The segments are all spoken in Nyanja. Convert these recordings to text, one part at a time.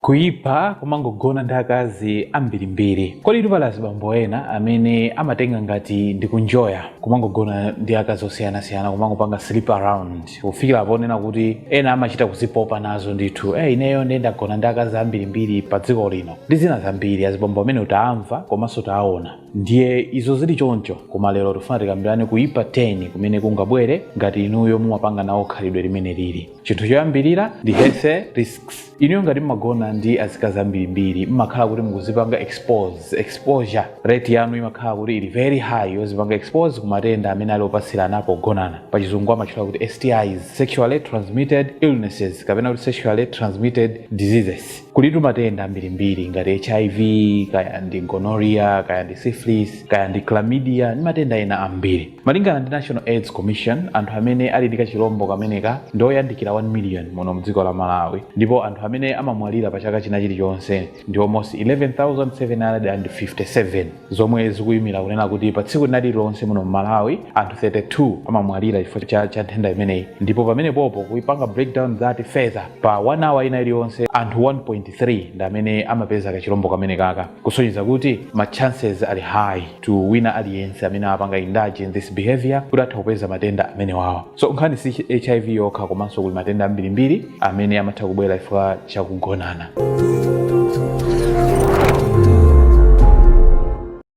Kuipa komangogona ndi akazi ambirimbiri. Koditu pali azibambo ena amene amatenga ngati ndikunjoya kumangogona ndi akazi osiyanasiyana kumangopanga sleep around kufikira ponena kuti ena amachita kuzipopa nazo ndithu eh ineyo nde ndagona ndi akazi ambirimbiri pa dziko lino ndi zina zambiri azibambo amene tawamva komanso taawona ndiye izo zili choncho koma lero tifuna tikambirane kuipa 10 kumene kungabwere ngati inuyo mumapanga nawo khalidwe limeneli chinthu choyambirira ndi health risks inuyo ngati mmagona ndi azikazi ambirimbiri mmakhala kuti mukuzipanga expose exposure rate yanu imakhala kuti ili very high yozipanga expose ku matenda amene ali opatsirana pogonana pachizungu amatchula kuti stis sexually transmitted illnesses kapena kuti sexually transmitted diseases kulitu matenda ambirimbiri ngati hiv kaya ndi gonorrhea kaya ndi syphilis kaya ndi chlamydia ndi matenda ena ambiri Malingana ndi National Aids Commission, anthu amene ali ndi kachilombo kameneka ndi oyandikira 1 million muno mdziko la Malawi ndipo anthu amene amamwalira pa chaka china chilichonse ndi almost 11,757 zomwe zikuyimira kunena kuti pa tsiku lina lililonse muno m'Malawi anthu 32 amamwalira chifukwa cha, cha nthenda imeneyi ndipo pamenepopo kupanga breakdown that further pa 1 hour ina iliyonse anthu 1.3 ndi amene amapeza kachilombo kamenekaka kusonyeza kuti ma chances ali high to wina aliyense amene apanga indulge in this behavior kuti atha kupeza matenda amenewawa so nkhani si hiv yokha komanso kuli matenda ambirimbiri amene amatha kubwera chifukwa chakugonana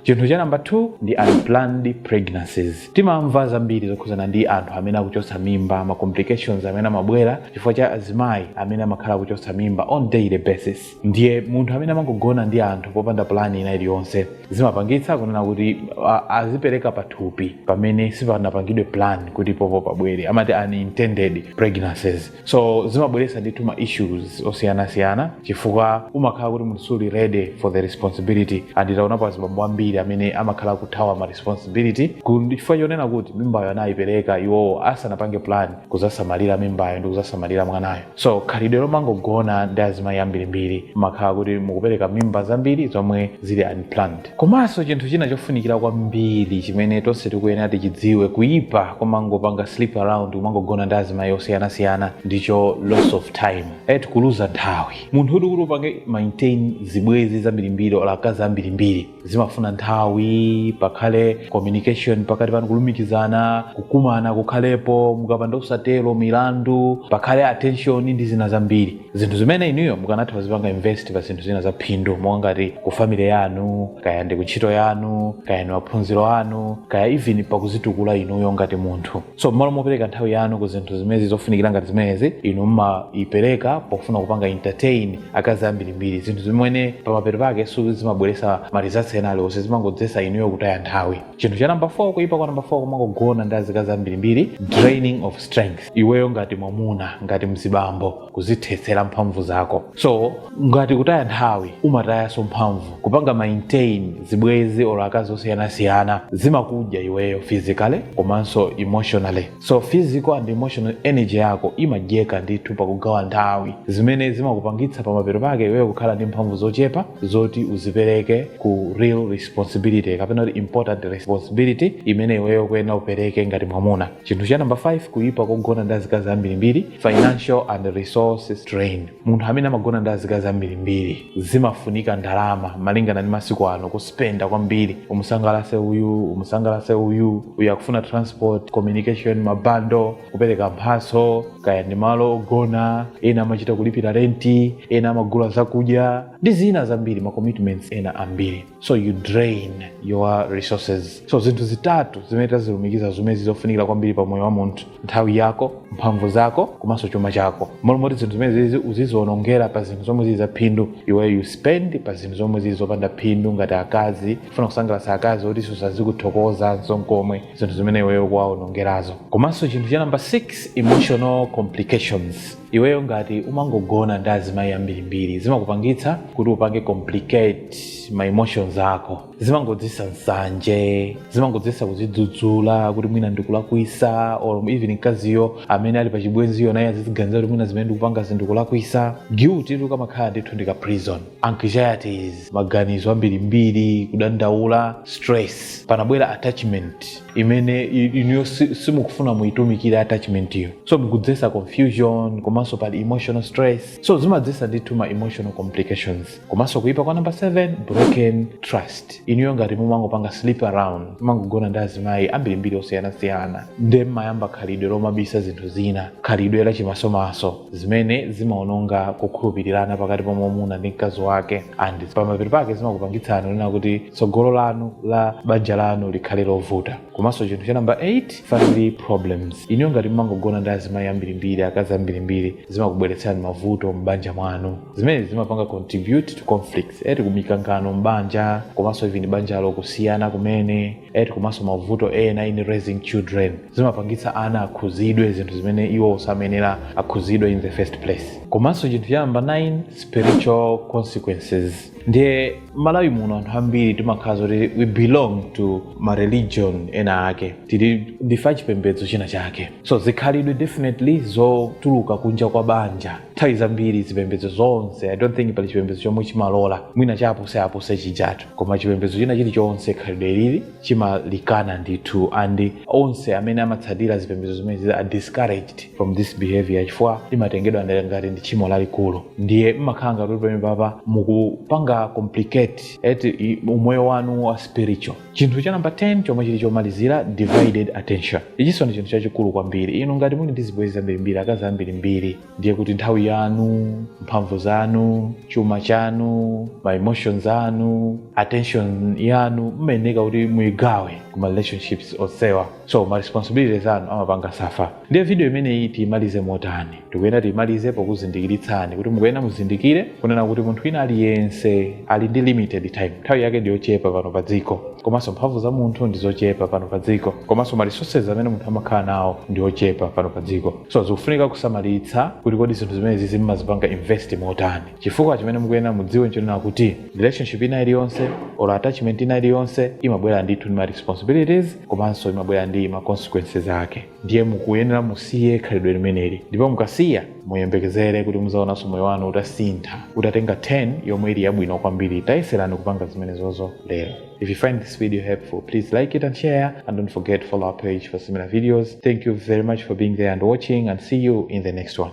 chinthu cha namba 2 ndi unplanned pregnancies timamva zambiri zokhudzana ndi anthu amene akuchotsa mimba ma complications amene amabwera chifukwa cha azimayi amene amakhala akuchotsa mimba on daily basis ndiye munthu amene amangogona ndi anthu popanda plan ina iliyonse zimapangitsa kunena kuti a- azipereka pathupi pamene sipanapangidwe plan kuti popo pabwere amati unintended pregnancies so zimabweretsa ndithu ma issues osiyanasiyana chifukwa umakhala kuti munthu suli ready for the responsibility and taonapo azibambo ambiri amene amakhala akuthawa ma responsibility ku- ndi chifukwa chonena kuti mimbayo anayipereka iwowo asanapange plan kuzasamalira mimbayo ndi kuzasamalira mwanayo so khalidwe lomangogona ndi azimayi ambirimbiri mmakhala kuti mukupereka mimba zambiri zomwe zili unplanned komanso chinthu china chofunikira kwambiri chimene tonse tikuyenera tichidziwe kuyipa komangopanga sleep around kumangogona ndi azimayi osiyanasiyana ndicho loss of time eti kuluza nthawi munthu kuti kuti upange maintain zibwezi zambirimbiri olo akazi ambirimbiri zimafuna nthawi pakhale communication pakati panu kulumikizana kukumana kukhalepo mukapanda kusatero milandu pakhale attention ndi zina zambiri zinthu zimene inuyo mukanatha kuzipanga invest pa zinthu zina za phindu monga ngati ku family yanu kaya ndi ku ntchito yanu kaya ndi maphunziro anu kaya even pakuzitukula inuyo ngati munthu so mmalo mopereka nthawi yanu ku zinthu zimezi zofunikira ngati zimenezi inu mumaipereka pofuna kupanga entertain akazi ambirimbiri zinthu zimene pamapeto pake sizimabweresa ma results ena aliwonse zimangodzesa inuyo kutaya nthawi chinthu cha namba 4 kuipa kwa namba 4 kumangogona ndi azikazi ambirimbiri draining of strength iweyo ngati mwamuna ngati mzibambo kuzithetsera mphamvu zako so ngati kutaya nthawi umatayanso mphamvu kupanga maintain zibwezi or akazi osiyanasiyana zimakudya iweyo physically komanso emotionally so physical and emotional energy yako imadyeka ndithu pakugawa nthawi zimene zimakupangitsa pamapeto pake iweyo kukhala ndi mphamvu zochepa zoti uzipereke ku real responsibility kapena kuti important responsibility imene iweyo kuyenera upereke ngati mwamuna chinthu cha namba 5 kuyipa kogona ndi azikazi ambirimbiri financial and resource strain munthu amene amagona ndi azikazi ambirimbiri zimafunika ndalama malingana ndi masiku ano kuspenda kwambiri umusangalase uyu umusangalase uyu uyu akufuna transport communication mabando kupereka mphaso kaya ndi malo ogona ena amachita kulipira renti ena amagula zakudya ndi zina zambiri ma commitments ena ambiri so you drain your resources so zinthu zitatu zimene tazilumikiza zimene zili zofunikira kwambiri pa moyo wa munthu nthawi yako mphamvu zako komanso chuma chako mmalo moti zinthu zimenezizi uzizionongera pa zinthu zomwe zili zaphindu iwe you spend pa zinthu zomwe zili zopanda phindu ngati akazi kufuna kusangalatsa akazi oti sazakuthokozanso nkomwe zinthu zimene iweyo ukuwaonongerazo komanso chinthu cha namba 6 emotional complications iweyo ngati umangogona ndi azimayi ambirimbiri zimakupangitsa kuti upange complicate ma emotions ako zimangodzesa nsanje zimangodzesa kuzidzudzula kuti mwina ndikulakwisa or even mkaziyo amene ali pachibwenziyo naye aziziganiza kuti mwina zimene ndikupanga zi ndikulakwisa guilt eti kamakhala ndithu ndi ka prison anxieties maganizo ambirimbiri kudandaula stress pamabwera attachment imene i- inuyo si- simukufuna muitumikire attachment iyo so mukudzetsa confusion komanso pali emotional stress so zimadzetsa ndithu ma emotional complications komanso kuipa kwa number 7 broken trust inuyo ngati mumangopanga sleep around mumangogona ndi azimayi ambirimbiri osiyanasiyana nde mmayamba khalidwe lomabisa zinthu zina khalidwe lachimasomaso zimene zimaononga kukhulupirirana pakati pa mwamuna ndi mkazi wake and pamapeto pake zimakupangitsani kunena kuti tsogolo lanu la banja lanu likhale lovuta komanso chinthu cha namba 8 family problems inuyo ngati mumangogona ndi azimayi ambirimbiri akazi ambirimbiri zimakubweretserani mavuto m'banja mwanu zimene zimapanga contribute to conflicts eti kumikangano m'banja komanso even banjalo kusiyana kumene eti komanso mavuto ena in raising children zimapangitsa ana akhuzidwe zinthu zimene iwo samayenera akhuzidwe in the first place komanso chinthu cha namba 9 spiritual consequences ndiye malawi muno anthu ambiri timakhala zoti we belong to ma religion ena ake tili ndife achipembedzo china chake so zikhalidwe definitely zotuluka kunja kwa banja nthawi zambiri zipembedzo zonse i don't think pali chipembedzo chomwe chimalola mwina chapuse apuse chijatu koma chipembedzo china chilichonse khalidwelili chimalikana ndithu and onse amene amatsatira zipembedzo zimenezi are discouraged from this behavior chifukwa limatengedwa ndi- ngati ndi tchimo lalikulu ndiye mmakhala ngati kuti pamenepapa mukupanga complicate eti i- umoyo wanu wa spiritual chinthu cha namba 10 chomwe chili chomalizira divided attention ichinso ndi chinthu chachikulu kwambiri inu ngati muli ndi zibwenzi zambirimbiri akazi ambirimbiri ndiye kuti nthawi yanu mphamvu zanu chuma chanu ma emotions anu attention yanu mmayeneka kuti muyigawe ku ma relationships onsewa so ma responsibilities anu amapanga suffer ndiye video imeneyi tiyimalize motani tikuyena tiyimalize pokuzindikiritsani kuti mukuyena muzindikire kunena kuti munthu wina aliyense ali ndi limited time nthawi yake ndiyochepa pano pa dziko komanso mphamvu za munthu ndizochepa pano pa dziko komanso ma resources amene munthu amakhala nawo ndiochepa pano pa dziko so zikufunika kusamalitsa kuti kodi zinthu zimenezizi mmazipanga invest motani chifukwa chimene mukuyenera mudziwe nchonena kuti relationship ina iliyonse or attachment ina iliyonse imabwera ndithu ndi ma responsibilities komanso imabwera ndi ma consequences ake ndiye mukuyenera musiye khalidwe limeneli ndipo mukasiya muyembekezere kuti muzaonanso moyo wanu utasintha utatenga turn yomwe ili yabwino kwambiri tayeserani kupanga zimenezozo lero If you find this video helpful, please like it and share. And don't forget to follow our page for similar videos. Thank you very much for being there and watching, and see you in the next one.